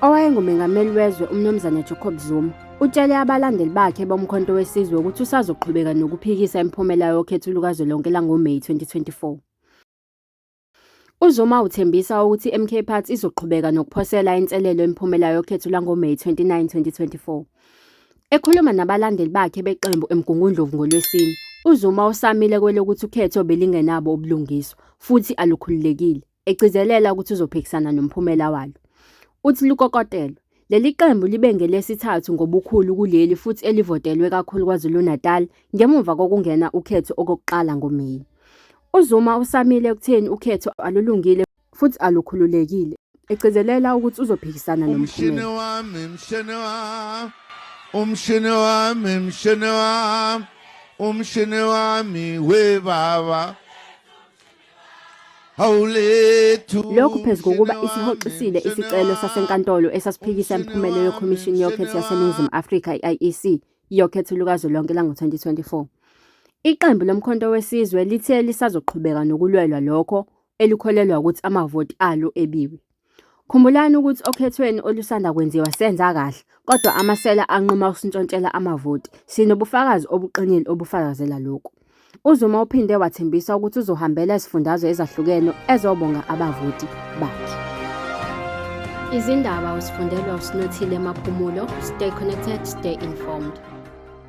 owayengumengameli wezwe uMnumzane Jacob Zuma utshele abalandeli bakhe bomkhonto wesizwe ukuthi usazoqhubeka nokuphikisa imiphumela yokhetho lukazwelonke langoMeyi 2024. UZuma uthembisa ukuthi iMK Party izoqhubeka nokuphosela inselelo imiphumela yokhetho lwangoMeyi 29, 2024. Ekhuluma nabalandeli bakhe beqembu eMgungundlovu ngoLwesine, uZuma usamile kwelokuthi ukhetho belingenabo ubulungiswa futhi alukhululekile, egcizelela ukuthi uzophikisana nomphumela walo. Uthi lukokotelwe. Leli qembu libe ngelesithathu ngobukhulu kuleli futhi elivotelwe kakhulu KwaZulu-Natal ngemuva kokungena ukhetho okokuqala ngoMeyi. UZuma usamile ekutheni ukhetho alulungile futhi alukhululekile, egcizelela ukuthi uzophikisana nomphumela. Umshini wami, mshini wami, umshini wami, we baba. Lokhu phezu kokuba isihoxisile isicelo sasenkantolo esasiphikisa imiphumela yoKhomishini Yokhetho yaseNingizimu Afrika i-IEC yokhetho lukazwelonke lango-2024. Iqembu loMkhonto weSizwe lithe lisazoqhubeka nokulwelwa lokho elikholelwa ukuthi amavoti alo ebiwe. Khumbulani ukuthi okhethweni olusanda kwenziwa senza kahle, kodwa amasela anquma ukusintshontshelwa amavoti. Sinobufakazi obuqinile obufakazela lokhu. UZuma uphinde wathembisa ukuthi uzohambela izifundazwe ezahlukene ezobonga abavoti bakhe. Izindaba usifundelwa uSinothile Maphumulo. Stay connected, stay informed.